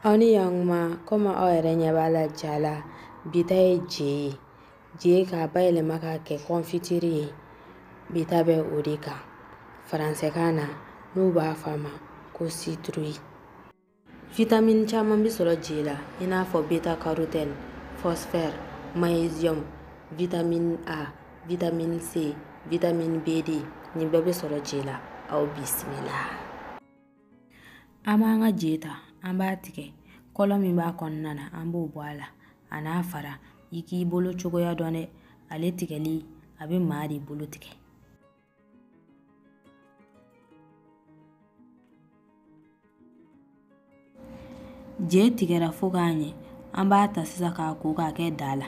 aw ni yankuma komi aw yɛrɛ ɲɛ b'a la ja la bi ta ye je ye je k'a bayɛlɛma k'a kɛ kɔnfitiri ye bi ta bɛ o de kan faransɛkan na n'u b'a fɔ a ma ko sitrui vitamini caman bɛ sɔrɔ je la i n'a fɔ beta karotɛni fɔsifɔri maɲeziyɔmu vitamini a vitamini c vitamini bd nin bɛɛ bɛ sɔrɔ je la aw bisimila An b'an ka je ta an b'a tigɛ kolo min b'a kɔnɔna na an b'o bɔ a la a n'a fara i k'i bolo cogoya dɔn dɛ ale tigɛli a bɛ maa de bolo tigɛ je tigɛra fo k'a ɲɛ an b'a ta sisan k'a ko k'a kɛ daa la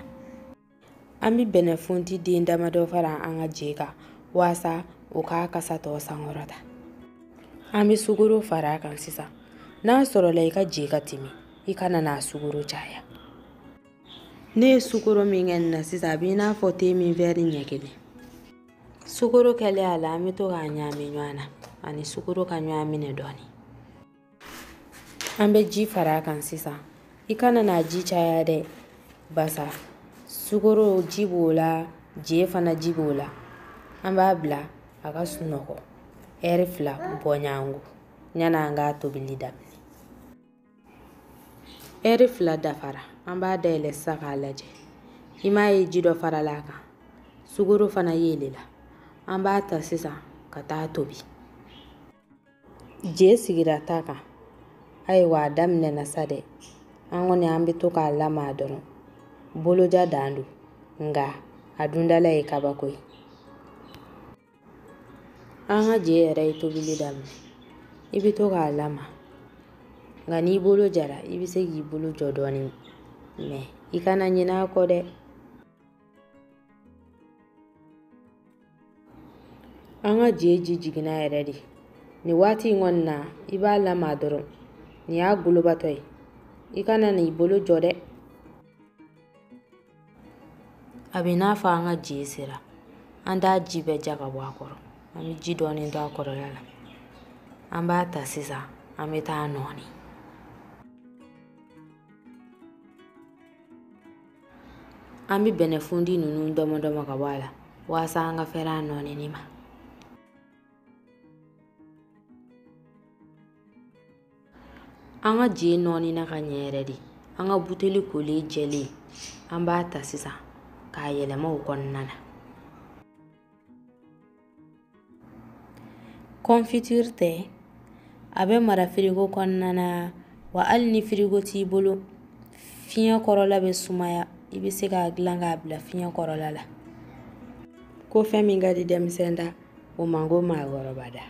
an bɛ bɛnɛfunti den damadɔ fara an ka je kan waasa o k'a kasa tɔ sankɔrɔta an bɛ sukoro fara a kan sisan n'a sɔrɔla i ka je ka timi i kana n'a sukoro caya ne ye sukoro min kɛ nin na sisan a b'i n'a fɔ te min wɛri ɲɛ kelen sukoro kɛlen a la an bɛ to k'a ɲaami ɲɔgɔn na a ni sukoro ka ɲɔgɔn minɛ dɔɔnin an bɛ ji fara a kan sisan i kana n'a ji caya dɛ baasa sukoro ji b'o la je fana ji b'o la an b'a bila a ka sunɔgɔ ɛri fila bɔɲɔgɔnko yanni an k'a tobili daminɛ ɛri fila dafara an b'a dayɛlɛ sisan k'a lajɛ i m'a ye ji dɔ farala a kan sukoro fana yeelela an b'a ta sisan ka taa tobi je sigira ta kan ayiwa a daminɛna sa dɛ an kɔni an bɛ to k'a lamaa dɔrɔn boloja dan don nka a dundala ye kabako ye an ka je yɛrɛ ye tobili daminɛ i bɛ to k'a lamaa nka n'i bolo jara i bɛ se k'i bolo jɔ dɔɔnin mɛ i kana ɲinɛ a kɔ dɛ an ka je ji jiginna yɛrɛ de nin waati in kɔni na i b'a lamaa dɔrɔn nin y'a golobatɔ ye i kana n'i bolo jɔ dɛ a b'i n'a fɔ an ka je sera an t'a ji bɛɛ ja ka bɔ a kɔrɔ an bɛ ji dɔɔni to a kɔrɔla la an b'a ta sisan an bɛ taa nɔɔni an bɛ bɛnɛfundi ninnu tɔmɔtɔmɔ ka bɔ a la waasa an ka fɛrɛ a nɔɔnini ma an ka je nɔɔnina ka ɲɛ yɛrɛ de an ka buteli kolen jɛlen an b'a ta sisan k'a yɛlɛma o kɔnɔna na confiture tɛ a bɛ mara firigo kɔnɔna na wa hali ni firigo t'i bolo fiɲɛ kɔrɔla bɛ sumaya i bɛ se k'a dilan k'a bila fiɲɛ kɔrɔla la ko fɛn min ka di denmisɛn da o man ko maakɔrɔba da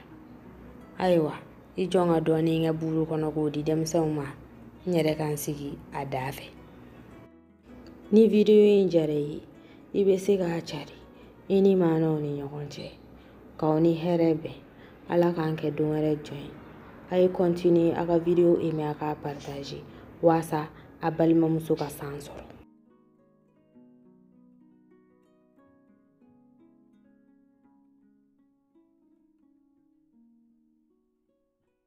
ayiwa i jɔ n ka dɔɔnin kɛ buru kɔnɔ k'o di denmisɛnw ma n yɛrɛ ka n sigi a da fɛ ni video in diyara i ye i bɛ se k'a cari i limaanaw ni ɲɔgɔn cɛ k'aw ni hɛrɛ bɛn ala k'an kɛ don wɛrɛ jɔn ye a ye continuer a ka video aimer a k'a partager waasa a balimamuso ka san sɔrɔ